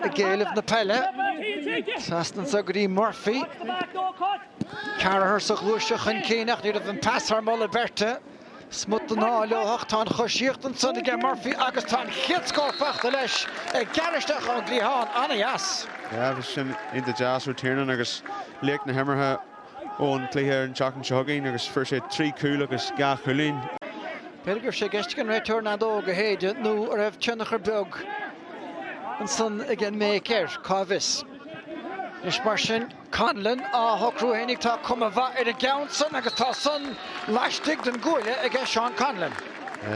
Ag éileamh na peile, trasna anso go dtí Murphy. Carragher sa ghluaiseacht chun cinn ach ní raibh an pas thar moladh beirte. Smut den ádh leo ach tá an choisíocht ansan aige Murphy agus tá an chéad scór fachta leis ag gearradh isteach ón gcliathán. Ana-dheas. Yeah, bhí sin iontach deas ó Tiernan agus laoch na himeartha ón chluiche ar an tseachtain seo chugainn agus fuair sé trí chúl agus dhá chúilín. B'fhéidir go raibh sé i gceist ag an réiteoir an fheadóg a shéideadh nó a raibh tionchar beag ansan ag an mbéic air, cá bhfios. Anois mar sin, Conlon á shocrú fhéin ach tá cuma mhaith ar an gceann san agus tá san laistigh den gcuaille aige Seán Conlon.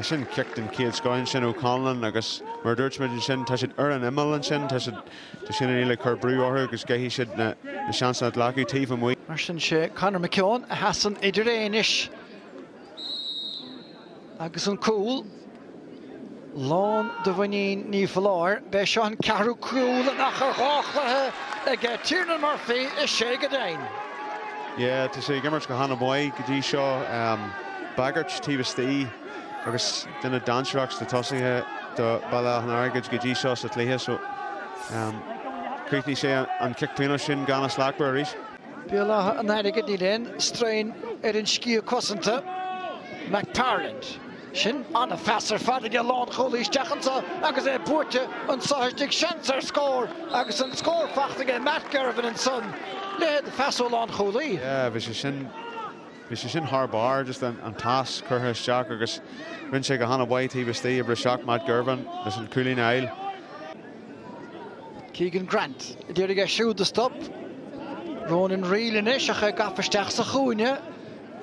Sin cic den chéad scoth ansin ó Conlon agus mar a dúirt muid ansin tá siad ar an imeall ansin, tá siad Tá Shane O'Neills ag cur brú orthu agus caithfidh siad na seansanna a ghlacadh taobh amuigh. Mar sin sé Conor McKeown a sheasann idir é anois agus an cúl. Lán de mhuinín ní foláir, b'é seo an ceathrú cúl in achar dhá chluiche ag Tiernan Murphy is é go deimhin. Yeah, tá sé ag imirt go hana-mhaith go dtí seo. Bagairt taobh istigh. agus duine dainséarach sna tosaithe do Béal Átha an Airgid go dtí seo sa chluiche so chríochnaigh sé an cic pionóis sin go hana-slachtmhar arís. Béal Átha an Airgid, níl aon strain ar an sciath cosanta, McParland. Sin an-phas ar fad ag an lánchúlaí isteach anseo agus é buaite anso istigh, seans ar scór agus an scór fachta aige Matt Girvan ansan. Leithéid de phas ó lánchúlaí. Yeah, bhí sé sin. Bhí sé sin thar barr, just an pas curtha isteach agus rinne sé go han-mhaith taobh istigh, a briseadh Matt Girvan leis an cúilín a fháil. Keegan Grant a d'iarraidh é siúd a stop Ronan Reale anois ach é gafa isteach sa chúinne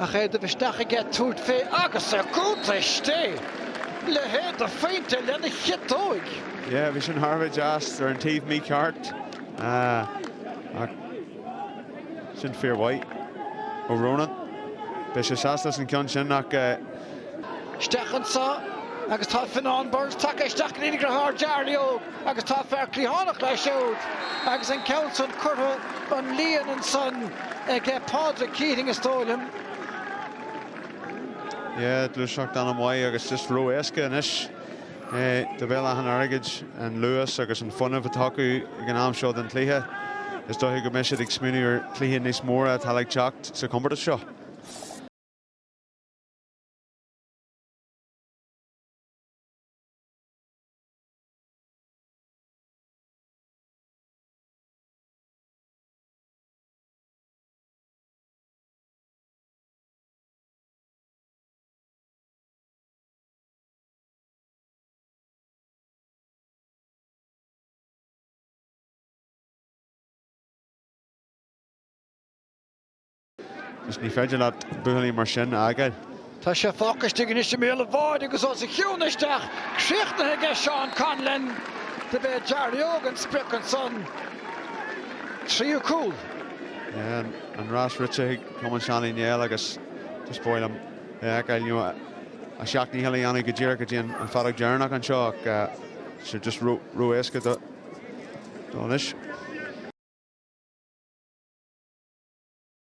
ach é ag dul isteach ag tabhairt fé agus é curtha istigh! Leithéid de phointe lena chiotóig! Yeah, bhí sin thar a bheith deas ar an taobh mícheart ach. Sin fíormhaith ó Ronan. Beidh sé sásta leis an ceann sin ach. Isteach anso agus tá Fionnán Burns tagtha isteach go dtí a dheartháir Jarly Óg agus tá fear cliathánach leis siúd agus an ceann san curtha an líon ansan ag Pádraig Keating is dóigh liom. Yeah, gluaiseacht an-mhaith agus just ró éasca anois. do Bhéal Átha an Airgid an luas agus an fuinneamh atá acu ag an am seo den chluiche, is dóiche go mbeidh siad ag smaoineamh ar chluiche níos móra atá le teacht sa chomórtas seo. Is ní féidir leat buachaill mar sin a fhágáil. Tá sé focus istigh ansin i mbéal an bháide agus os a chionn isteach críochnaithe ag Seán Conlon. Do b'é Jarry Óg an sprioc ansan. Tríú cúl. An rás rite ag Cumann Seán Uí Néill agus is fearr liom a fheiceáil, you know, a sheacht ndícheall a dhéanamh go díreach go dtí an fheadóg dheireanach anseo ach tá sé just ró-éasca dó anois.